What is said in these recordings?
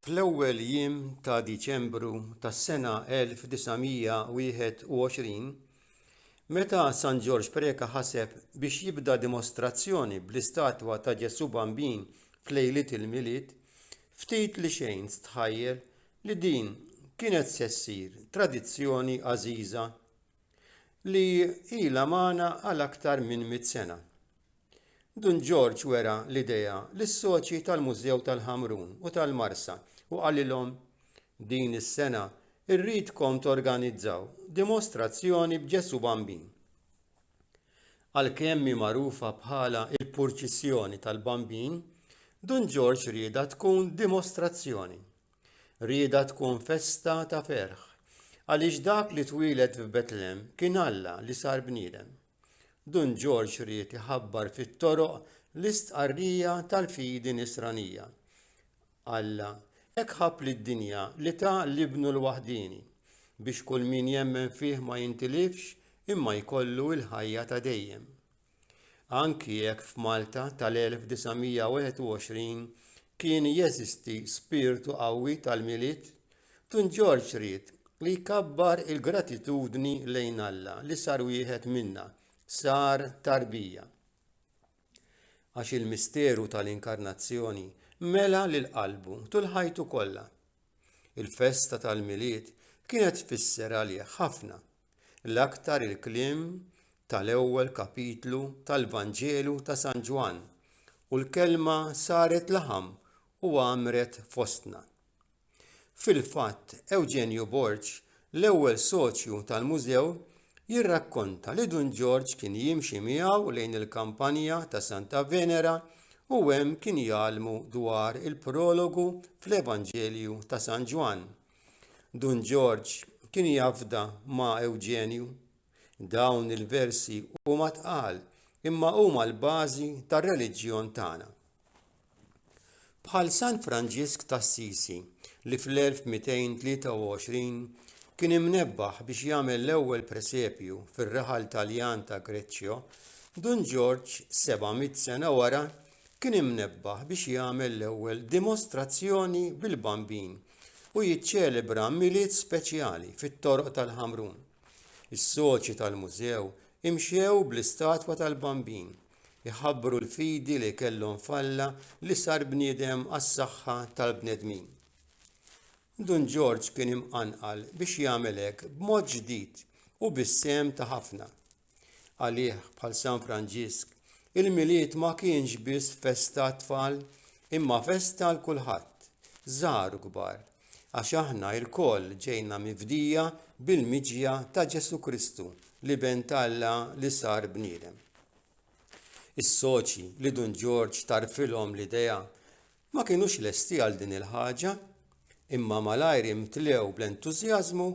Fl-ewwel jiem ta' Diċembru tas-sena 1921, meta San Ġorġ Preca ħaseb biex jibda dimostrazzjoni bl-istatwa ta' Ġesù Bambin f'lejliet il-Milied, ftit li xejn stħajjel li din kienet se ssir tradizzjoni għażiża li ilha magħna għal aktar minn mitt sena. Dun Ġorġ wera l-idea lis-soċji tal-Mużew tal-Ħamrun u tal-Marsa u qalilhom, Din is-sena rridkom torganizzaw dimostrazzjoni b'Ġesù Bambin. Għalkemm hi magħrufa bħala l-Purċissjoni tal-Bambin, Dun Ġorġ riedha tkun dimostrazzjoni. Riedha tkun festa ta' ferħ, għaliex dak li twieled f'Betlem kien Alla li sar bniedem. Dun Ġorġ ried iħabbar fit-toroq l-istqarrija tal-fidi Nisranija. Alla hekk ħabb lid-dinja li ta l-Ibnu l-waħdieni biex kull min jemmen fih ma jintilifx imma jkollu l-ħajja ta' dejjem. Anki jekk f'Malta tal-1921 kien jeżisti spirtu qawwi tal-Milied Dun Ġorġ ried li jkabbar il-gratitudni lejn Alla li sar wieħed minna, sar tarbija. Għax il-misteru tal-inkarnazzjoni mela lil qalbu tul ħajtu kollha. Il-festa tal-Milied kienet tfisser għalih ħafna, l-aktar il-kliem tal-ewwel kapitlu tal-Vanġelu ta' San Ġwann, u l-kelma saret laħam u għamret fostna. Fil-fatt, Eugenio Borg, l-ewwel soċju tal-mużew, jirrakkonta li Dun Ġorġ kien jimxi miegħu lejn il-kampanja ta' Santa Venera u hemm kien jgħallmu dwar il-prologu fl-Evanġelju ta' San Ġwann. Dun Ġorġ kien jafda ma' Eugenio. Dawn il-versi huma tqal imma huma l-bażi tar-reliġjon tagħna. Bħal San Franġisk t'Assisi li fl-1223 kien imnebbaħ biex jagħmel l-ewwel presepju fir-raħal Taljan ta' Greccio, Dun Ġorġ 700 sena wara kien imnebbaħ biex jagħmel l-ewwel dimostrazzjoni bil-Bambin u jiċċelebra Milied speċjali fit-toroq tal-Ħamrun. Is-soċi tal-mużew imxew bl-istatwa tal-Bambin jħabbru l-fidi li kellhom f'Alla li sar bniedem għas-saħħa tal-bnedmin. Dun Ġorġ kien imqanqal biex jagħmel hekk b'mod ġdid u bis-sehem ta' ħafna. Għalih bħal San Franġisk, il-Milied ma kienx biss festa tfal imma festa għal kulħadd, żgħar u kbar. Għax aħna lkoll ġejna mifdija bil-miġja ta' Ġesù Kristu, l-Iben ta' Alla li sar bniedem. Is-soċi li Dun Ġorġ tarfilhom l-idea ma kinux lesti għal din il-ħaġa, imma malajr imtlew bl-entużjażmu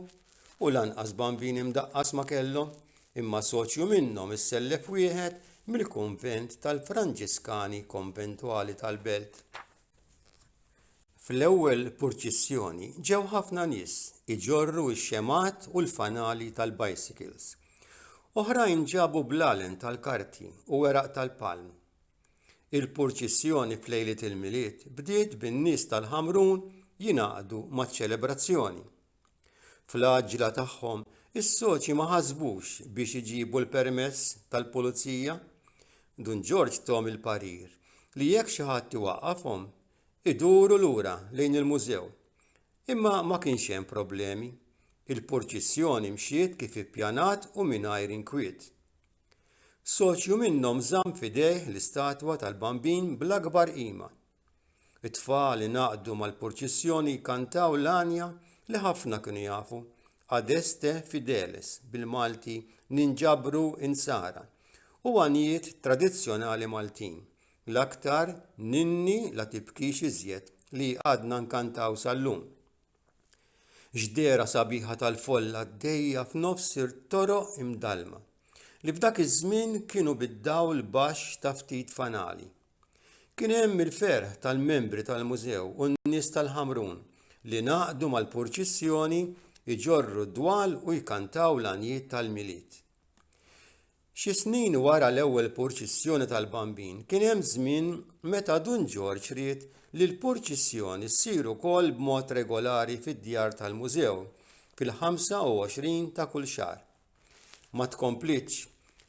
u lanqas bambin imdaqqas ma kellhom, imma soċju minnhom issellef wieħed mill-kunvent tal-Franġiskani konventwali tal-belt. Fl-ewwel purċissjoni ġew ħafna nies iġorru x-xemgħat u l-fanali tal-bicycles. Oħrajn ġabu blalen tal-karti u weraq tal-palm. Il-purċissjoni f'lejliet il-Milied bdiet bin-nies tal-Ħamrun jingħaqdu maċ-ċelebrazzjoni. Fl-għaġġla tagħhom, is-soċji ma ħasbux biex iġibu l-permess tal-pulizija. Dun Ġorġ thom il-parir li jekk xi ħadd iwaqqafhom, iduru lura lejn il-mużew. Imma ma kienx hemm problemi. Il-purċissjoni mxiet kif ippjanat u mingħajr inkwiet. Soċju minnhom żamm f'idejh l-istatwa tal-Bambin bl-akbar qima. It-tfal ingħaqdu mal-purċissjoni jkantaw l-għanja li ħafna kienu jafu, Adeste Fideles, bil-Malti Ninġabru Insara, u għanjiet tradizzjonali Maltin, l-aktar Ninni la tibkix iżjed li għadna nkantaw sal-lum. Ġdera sabiħa tal-folla għaddejja f'nofs toroq imdallma, li f'dak iż-żmien kienu bid-dawl baxx ta' ftit fanali. Kien hemm il-ferħ tal-membri tal-mużew u n-nies tal-Ħamrun li ngħaqdu mal-purċissjoni jġorru d-dwal u jkantaw l-għanjiet tal-Milied. Xi snin wara l-ewwel purċissjoni tal-Bambin kien hemm żmien meta Dun Ġorġ ried li l-purċissjoni ssir ukoll b'mod regolari fid-djar tal-mużew fil-25 ta' kull xahar. Ma tkomplitx,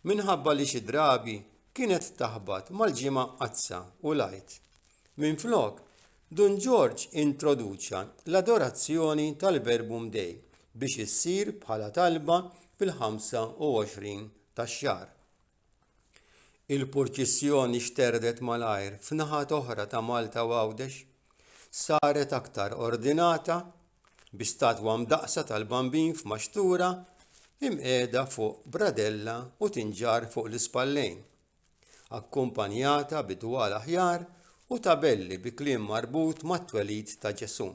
minħabba li xi drabi kienet taħbat mal-Ġimgħa Mqaddsa u l-Għid. Minflok, Dun Ġorġ introduċa l-adorazzjoni tal-Verbum Dei biex issir bħala talba fil-25 tax-xahar. Il-purċissjoni xterdet malajr f'naħat oħra ta' Malta u Għawdex saret aktar ordinata bi statwa mdaqqsa tal-Bambin f'maxtura imqiegħda fuq bradella u tinġarr fuq l-ispallejn, akkumpanjata bi dwal aħjar u tabelli bi kliem marbut mat-twelid ta' Ġesù.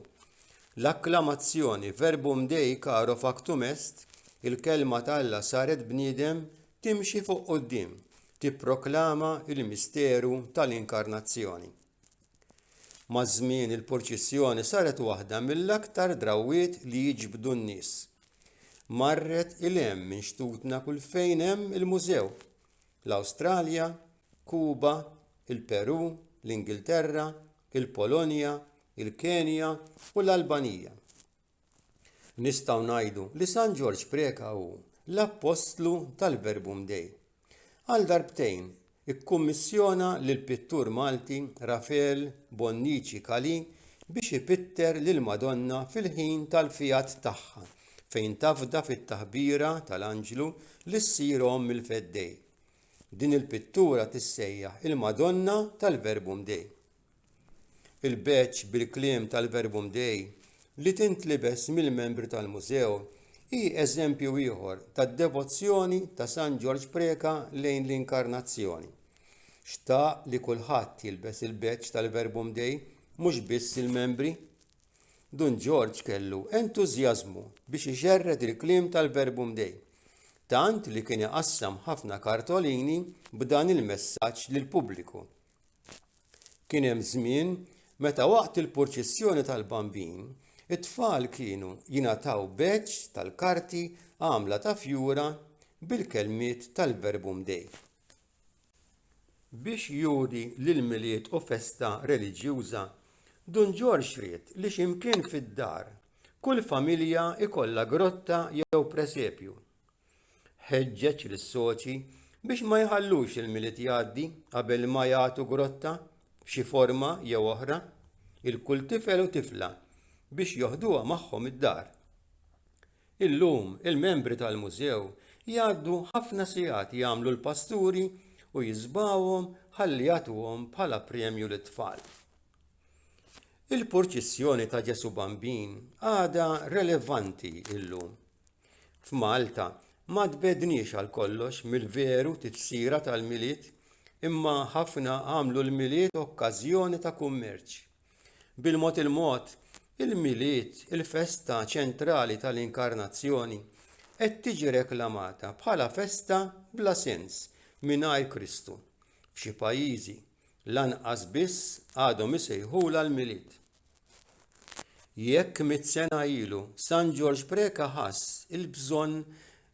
L-akklamazzjoni Verbum Dei caro factum est, il-kelma ta' Alla saret bniedem, Timxi fuq quddiem, tipproklama l-misteru tal-Inkarnazzjoni. Maż-żmien il-purċissjoni saret waħda mill-aktar drawwiet li jiġbdu n-nies. Marret il hemm minn xtutna kull fejn hemm il-mużew, l-Awstralja, Kuba, il-Perù, l-Ingilterra, il-Polonja, il-Kenja u l-Albanija. Nistgħu ngħidu li San Ġorġ Preca hu l-appostlu tal-Verbum Dei. Għal darbtejn ikkummissjona lill-pittur Malti Rafeal Bonnici Calì biex ipitter lill-Madonna fil-ħin tal-fiat tagħha fejn tafda fit-taħbira tal-anġlu li ssir omm il-Feddej. Din il-pittura tissejjaħ il-Madonna tal-Verbum Dei. Il-badge bil-kliem tal-Verbum Dei li tintlibes mill-membri tal-Mużew hi eżempju ieħor tad-devozzjoni ta' San Ġorġ Preca lejn l-Inkarnazzjoni. Xtaq li kulħadd jilbes il-badge tal-Verbum Dei mhux biss il-membri. Dun Ġorġ kellu entużjażmu biex ixerred il-kliem tal-Verbum Dei, tant li kien iqassam ħafna kartolini b'dan il-messaġġ lill-pubbliku. Kien hemm żmien meta waqt il-purċissjoni tal-Bambin, it-tfal kienu jingħataw beċ tal-karti għamla ta' fjura bil-kelmiet tal-Verbum Dei. Biex juri li l-Milied hu festa reliġjuża, Dun Ġorġ ried li x'imkien fid-dar, kull familja jkollha grotta jew presepju. Ħeġġeġ lis-soċi biex ma jħallux il-Milied jgħaddi qabel ma jagħtu grotta b'xi forma jew oħra il kull tifel u tifla biex joħduha magħhom id-dar. Illum il-membri tal-mużew jgħaddu ħafna sigħat jagħmlu l-pasturi u jiżbgħuhom ħalli jagħtuhom bħala premju lit-tfal. Il-purċissjoni ta' Ġesu Bambin għadha relevanti illum. F'Malta, ma tbegħdniex għal kollox mill-veru tifsira tal-Milied, imma ħafna għamlu l-Milied okkażjoni ta' kummerċ. Bil-mod il-mod, il-Milied, il-festa ċentrali tal-Inkarnazzjoni, qed tiġi reklamata bħala festa bla sens mingħajr Kristu. F'xi pajjiżi, lanqas biss għadhom isejħulha l-Milied. Jekk mitt sena ilu San Ġorġ Preca ħass il-bżonn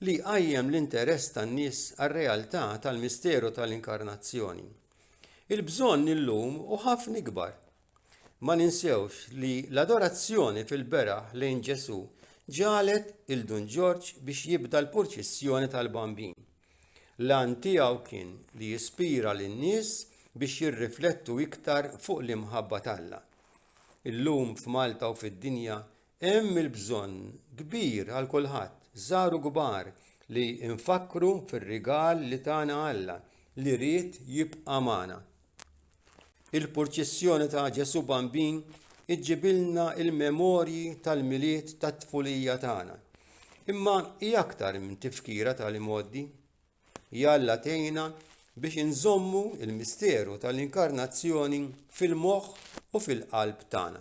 li jqajjem l-interess tan-nies għar-realtà tal-misteru tal-Inkarnazzjoni, il-bżonn illum hu ħafna ikbar. Ma ninsewx li l-adorazzjoni fil-beraħ lejn Ġesù ġagħlet 'il Dun Ġorġ biex jibda l-purċissjoni tal-Bambin. L-għan tiegħu kien li jispira lin-nies biex jirriflettu iktar fuq l-imħabba t'Alla. Illum f'Malta u fid-dinja hemm il-bżonn kbir għal kulħadd, żgħar u kbar, li nfakkru fir-rigal li tana Alla li ried jibqa' magħna. Il-purċissjoni ta' Ġesù Bambin iġġibilna il-memorji tal-milied tat-tfulija tagħna. Imma hi aktar minn tifkira tal-imoddi. Jalla tejna biex inżommu il-misteru tal-inkarnazzjoni fil-moħħ u fil-qalb tagħna.